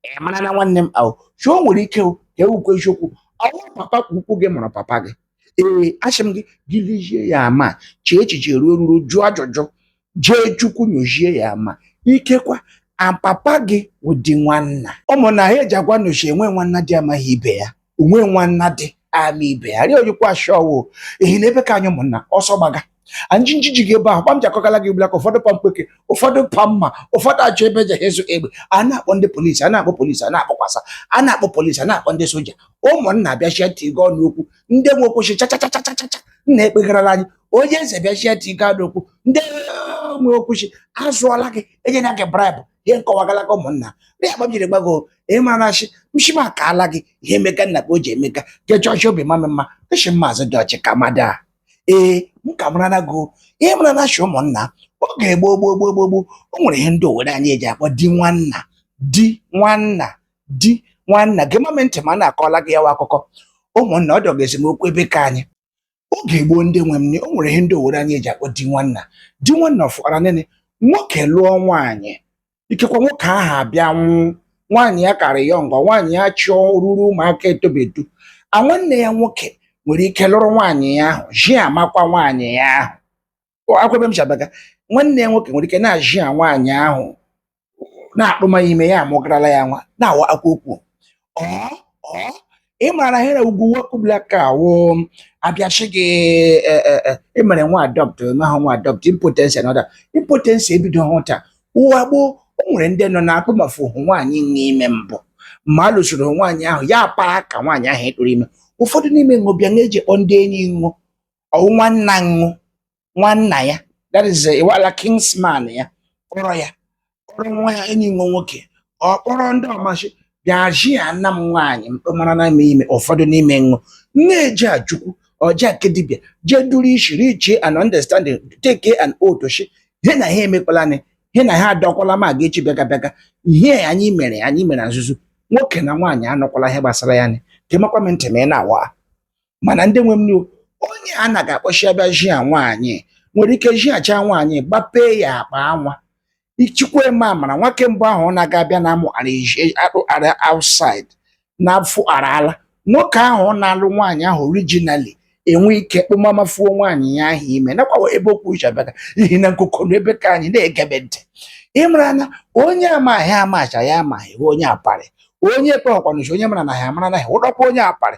ị mara na nwanne m ahụ shi o nwere ike o ka ewukwe eziokwu ọ wụ papa ka ukwu gị mụrụ papa gị ee ashị m gị gị lezie ya ama chee echiche ruo ruru jụọ ajụjụ jee chukwu nyozie ya ama ikekwa a papa gị wụ di nwanna ụmụnna he eji agwa ụnụ shi enwe nwanna dị amaghị ibe ya onwe nwanna dị ama ibe ya rịọ oyikwa ashọwo ehi na ebe ka anyị ụmụnna ọsọ gbaga anyị njiji gị ebe ahụ kpa m ji akọgala gị ugbulaka ụfọdụ pa mkpeke ụfọdụ pa mma ụfọdụ achọ ebe eji azụ egbe a na-akpọ ndị polisi a na-akpọ polisi a na-akpọkwasa a na-akpọ polisi a na-akpọ ndị soja ụmụnna bịachie ntị gị ọnụ okwu ndị nwe okwu shi chachachachachacha nna ekpegharala anyị onye eze bịachie ntị gị ọnụ okwu ndị nwe okwu shi azụọla gị enyela gị bribe ihe m kọwagala gị ụmụnna rịa akpa m jiri gbago ị mara shi m shi m akaala gị ihe emeka nna ka o ji emeka jechọ ọchị obi mama mma echi maazị dị ọchị ka mada a ee m ka mara na gụ ị mara na shi ụmụnna oge gboo gboo gboo gboo gboo o nwere ihe ndị owere anyị eji akpọ di nwanna di nwanna di nwanna gemama ntị ma a na-akọla gị ya wa akụkọ ụmụnna ọ dọga esemokwu ebe ka anyị oge gboo ndị nwe m o nwere ihe ndị owere anyị eji akpọ di nwanna di nwanna ọ fụtara nene nwoke lụọ nwaanyị ikekwa nwoke ahụ abịa nwụ nwaanyị ya ka rị young nwaanyị ya chụọ ruru ụmụaka etobedu a nwanne ya nwoke nwere ike lụrụ nwaanyị ya ahụ ji amakwa nwaanyị ya ahụ akwebe m chabaga nwanne ya nwoke nwere ike na-ajia nwaanyị ahụ na-akpụma ime ya amụgarala ya nwa na-awa akwa okwu ị mara shi na ụwa ke ugbulaka a wụ a bịa shi gị e, e, e, emere nwa adopt mahụ nwa adopt impotency na ọrịa impotency ebidohụ taa ụwa gboo o nwere ndị nọ na-akpụmafuhụ nwaanyị n'ime mbụ ma a lụsoro nwaanyị ahụ ya paa ka nwaanyị ahụ ịtụrụ ime ụfọdụ n'ime ṅụ bịa na-eje ịkpọ ndị enyi ṅụ ọ wụ nwanna ṅụ nwanna ya that is eh, iwala kinsman ya kpọrọ ya kpọrọ nwa ya enyi ṅụ nwoke ọ kpọrọ ndị ọ ma shi bịa ji ya nna m nwaanyị mkpemara na ime ime ụfọdụ n'ime ṅụ na-eje ajụkwu ọja nke dibịa jee duru ishi reach an understanding take an oath shi he na ha emekwala nị he na ha adọkwala ma ga echi bịaga bịaga ihe anyị mere anyị mere na nzuzo nwoke na nwaanyị anọkwala ihe gbasara ya nị gemakwa m ntị ma ị na-awa mana ndị nwe m n'iwu onye a na-aga akpọ shi bịa jia nwaanyị nwere ike jiachaa nwaanyị gbapee ya akpa nwa ichikwa eme amara nwoke mbụ ahụ ọ na-aga abịa na amụ ara eji- akpụ ara outside na-afụ ara ala nwoke ahụ ọ na-alụ nwaanyị ahụ originally enwe ike kpụmamafuo nwaanyị ya ahụ ime nakwawa ebe okwu shi abịaga ihi na nkụkọ na ebe ka anyị na-egebe ntị ịmara na onye amaghị amacha ya amaghị wụ onye aparị onye ekpeghọkwanụ shi onye mara na ha amara naghị ụdọkwa onye aparị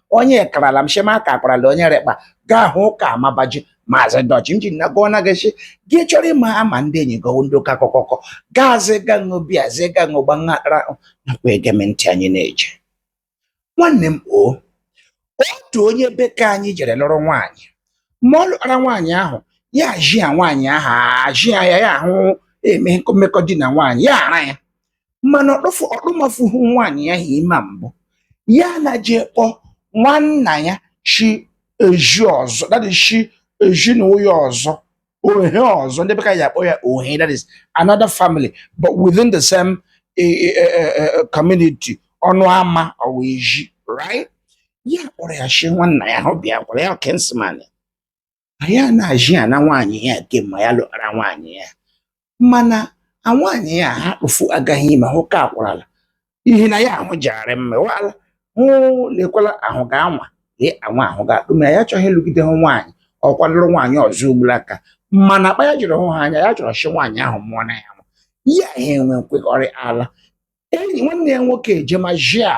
onye karala m shema ka akparala onye rekpa gaa hụ ka amabaji maazị dọchi m ji na gụọ na gị sị gị chọrọ ịma ama ndị enyi gị ndị ụka kọkọkọ gaazị ga ṅụ bịa zie ga ṅụ gba nghara nakwa ege m ntị anyị na-eje nwanne m o otu onye be ka anyị jere lụrụ nwaanyị ma ọ lụtara nwaanyị ahụ ya jia nwaanyị ahụ ajia ya ya ahụ eme mmekọ di na nwaanyị ya ara ya mana ọ kpụfụ ọ kpụmafuhu nwaanyị ya ahụ ime mbụ ya na je kpọ nwanna ya shi ezi ọzọ that is shi ezi na ụya ọzọ ohe ọzọ ndị be ka anyị akpọ ya ohe that is another family but within the same eh, eh, eh, eh, eh, community ọnụ ama ọwa ezi right ya kpọrọ ya shi nwanna ya hụ bịa kwara ya kinsman a ya na-ajị ya na nwaanyị ya kemgbe ya lụkara nwaanyị ya mana a nwaanyị ya ha kpụfu agaghị ime hụ ka akwarala ihe na ya ahụ jegharị mmewala hụ lekwala ahụ ga-anwa lee anwa ahụ ga-akpụ ma ya achọghị ịlụgide hụ nwaanyị ọ kwa lụrụ nwaanyị ọzọ ugbula aka mana akpa ya jiri hụ ha anya ya chọrọ shi nwaanyị ahụ mụọ na ya nwa ya ha enwe nkwekọrị ala enyi nwanne ya nwoke eje ma jia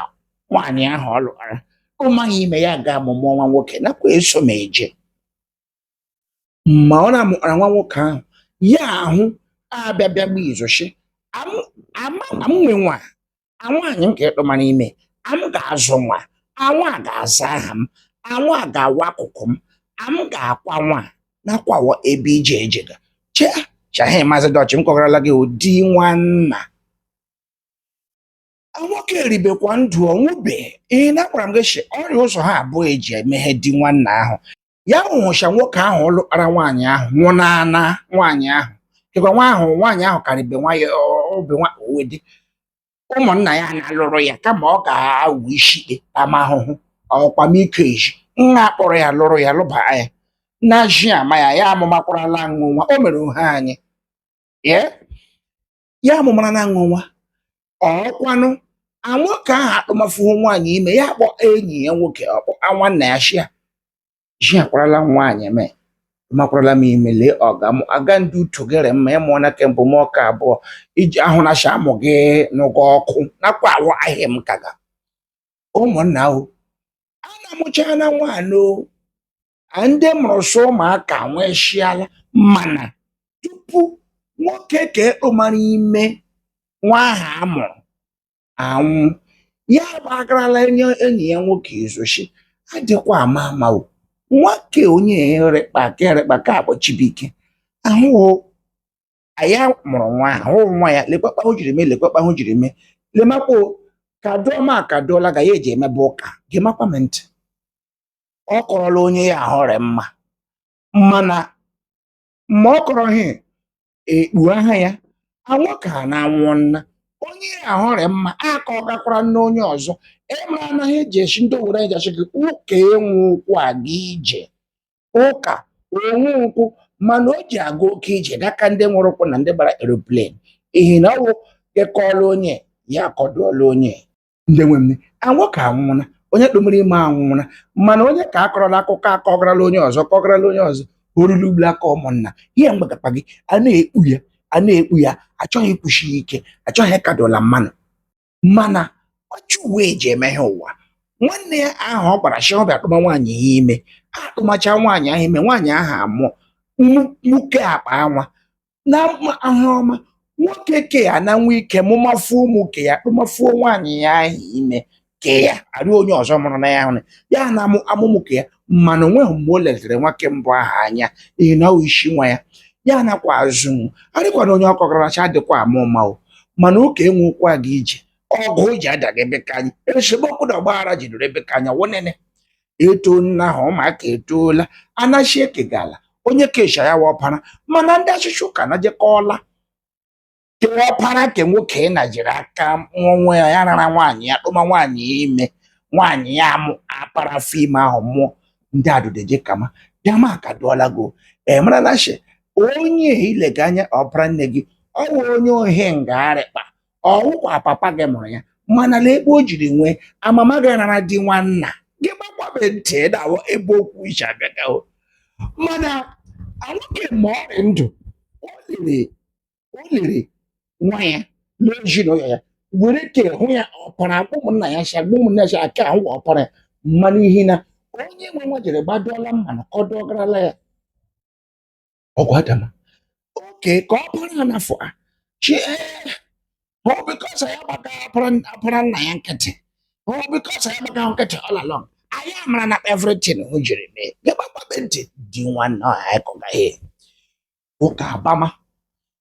nwaanyị ahụ ọ lụkara ọ maghị ime ya ga amụmụ nwa nwoke nakwa eso m eje ma ọ na-amụkpara nwa nwoke ahụ ya ahụ abịa bịa gba izo shi am nwe nwa a nwaanyị m ka ị kpụmara ime am ga-azụ nwa anwa ga-aza aha m anwa ga-awụ akụkụ m am ga-akwa nwa nakwawa ebe ije ejega chee chahe maazị dọchị m kọgarala gị ụdị nwanna nwoke rịbekwa ndụ ọ nwụbe ihe na akwara m gị shi ọ rị ụzọ ha abụọ eji eme ihe dị nwanna ahụ ya hụ sha nwoke ahụ lụkpara nwaanyị ahụ nwụọ n'ana nwaanyị ahụ dịkwa nwa ahụ nwaanyị ahụ ka rịbe nwa obe nwa owedị ụmụnna ya na-alụrụ ya kama ọ ga-awụ isi ikpe ama ahụhụ ọkwamiko eji nna akpọrọ ya lụrụ ya lụba ya na ji ama ya ya amụmakwarala nwa o mere ohe anyị ye ya amụmara na aṅụ nwa ọkwanụ nwoke ahụ akpụmafuhu nwaanyị ime ya kpọ enyi ya nwoke ọ kpọ nwanna ya shia ji akwarala nwaanyị m makwarala m ime lee ọga m aga ndị uto gere mma ịmụọ na kemgbe m ọka abụọ iji ahụ na sha amụ gị n'ụgwọ ọkụ nakwawa ihe m kaga ụmụnna ahụ a na-amụchaa na nwaanyị o ndị mụrụ sọ ụmụaka nweshiala mana tupu nwoke ka ekpomara ime nwa ahụ a mụrụ anwụ ya gbagarala enyi ya nwoke ezochi adịkwa ama ama o nwoke onye erekpa ka akpọ Chibuike ahụ ya mụrụ nwa ahụ nwa ya lekwakpa o jiri mee lekwakpa o jiri mee lemakwa o, ka dụọ ma ka dụọla ga ya eji emebe ụka gemakwa m ntị ọ kọrọla onye ya ahọrị mma mana ma ọ kọrọ ha ekpu aha ya nwoke a na anwụna onye ya ahọrị mma aka ọ gakwara nna onye ọzọ emere anaghị eji echi ndị owere anyị ja-ashị gị ụka enwe ụkwụ aga ije ụka onwe ụkwụ mana o ji aga oke ije gaka ndị nwere ụkwụ na ndị gbara eropleni ihi na ọ wụ gị kọọla onye ya akọdụọla onye ndị nwe m nwoke anwụna onye kpemere ime anwụna mana onye ke a kọrọla akụkọ akọgarala onye ọzọ kọgarala onye ọzọ orulu ugbu a ka ụmụnna ihe mgbagakpa gị a na-ekpu ya a na-ekpu ya achọghị ikwusi ya ike achọghị ịkọdụọla mmanụ mana ọchụ uwe eji eme ihe ụwa nwanne ya ahụ ọ gbara shi ọ bịa kpụma nwaanyị ya ime akpụmacha nwaanyị ahụ ime nwaanyị ahụ amụọ nwoke akpa anwa na ahụ ọma nwoke ke ya na nwa ike mụmafuo ụmụ ke ya kpụmafuo nwaanyị ya ahụ ime ke ya arị onye ọzọ mụrụ na ya ahụ ya na amụmụ ke ya mana o nweghị mgbe o letere nwoke mbụ ahụ anya ihi na ọ sị nwa ya ya nakwa azụ arịkwana onye ọkọkọrọcha dịkwa ama ama o mana ụka enwe ụkwụ aga ije ọgụ o ji adaga ebe ka anya esemokwu na ọgbaghara jidere ebe ka anya wonene eto nna ha ụmụaka etoola a na shi e kega ala onye kesha ya wụ ọpara mana ndị ọchịchọ ụka na jekọọla ke ọpara ke nwoke na jiri aka onwe ya rara nwaanyị ya kpụma nwaanyị ya ime nwaanyị ya amụ apara afọ ime ahụ mụọ ndị adụdeje kama dama akọdụọla gị ị mara na shi onye i lega anya ọpara nne gị ọ wụ onye ohi ngagharịkpa ọ wụkwa papa gị mụrụ ya mana lee ebe o jiri nwee amama gị nara di nwanna gị gbakwabe ntị dawo ebe okwu iche abịagawo mana nwoke ma ọ dị ndụ o lere o lere nwa ya n'ezinụlọ ya were ke hụ ya ọpara akpụ ụmụnna ya si agba ụmụnna ya si aka ahụ ọpara ya mmanụ ihi na onye nwe nwa jere gbadụọla mmanụ kọdụọgarala ya ọgụ adama oke ka ọ bụrụ na afọ a chi ọ because ya gbaga ọpara nna ya nkịtị ọ because ya gbaga nkịtị all along anyị amara na everything o jiri mee gị gbakpabe ntị di nwanne ọha anyị kọgaghị ụka agbama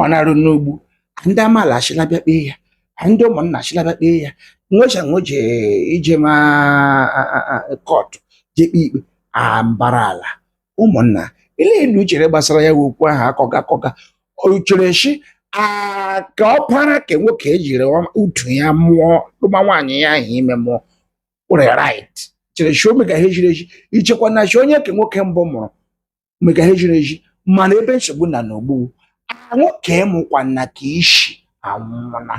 ọ na-eru n'ugbu a ndị amaala ashịla bịa kpee ya ndị ụmụnna ashịla bịa kpee ya nwecha nweje ije ma kọtụ je kpee ikpe a mbara ala ụmụnna ile elu chere gbasara ya wee okwu ahụ akọga akọga o chere shi ka ọpara ke nwoke e jiri utu ya mụọ tụma nwaanyị ya ahụ ime mụọ nwere right chere shi ọ mega ha e jiri eji ichekwa na shi onye ke nwoke mbụ mụrụ mega ha e jiri eji mana ebe nsogbu na n'ugbu a nwoke mụkwana ke ishi anwụla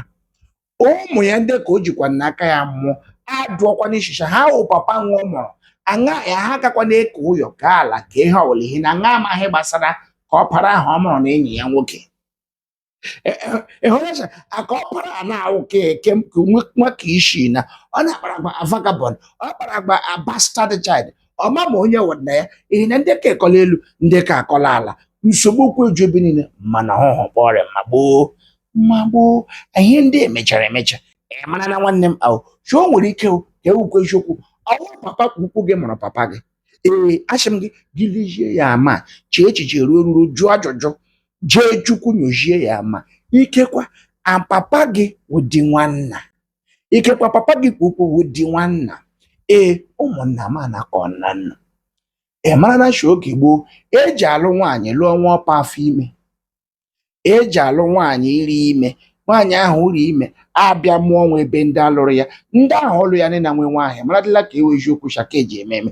ụmụ ya ndị ke o jikwa n'aka ya mụọ adụọkwa n'ishi sha ha wụ papa ṅụọ mụrụ aṅa ya ha gakwa na-eke ụyọ ke ala ke ihe ọ wụla ihe na aṅa amaghị gbasara ke ọpara ahụ ọ mụrụ na enyi ya nwoke ịhụnacha ke ọpara a na-awụ ka eke nwa ke ishi na ọ na-akpara agba a vagabond ọ kpara agba a bastard child ọ mama onye wụ nna ya ihe na ndị ke akọla elu ndị ke akọla ala nsogbu okwu eju ebe niile mana ọhụhụ kpọrọ ma gboo ma gboo ihe ndị emechara emecha ị mara na nwanne m ahụ shi o nwere ike ọ ka awụkwa eziokwu ọ wụ papa ke ukwu gị mụrụ papa gị ee ashị m gị gị lezie ya ma chee echiche ruo eruru jụọ ajụjụ jee Chukwu nyozie ya ma ikekwa papa gị wụdị nwanna ikekwa papa gị ke ukwu wụdị nwanna ee ụmụnna m anakọ nna nna ị mara na shi oge gboo eji alụ nwaanyị lụọ nwa ọpa afọ ime eji alụ nwaanyị rị ime nwaanyị ahụ rị ime abịa mụọ nwa ebe ndị alụrụ ya ndị ahụ ọ lụ ya nị na nwe nwa ahụ maradịla ka ọ wụ eziokwu sha ka eji eme eme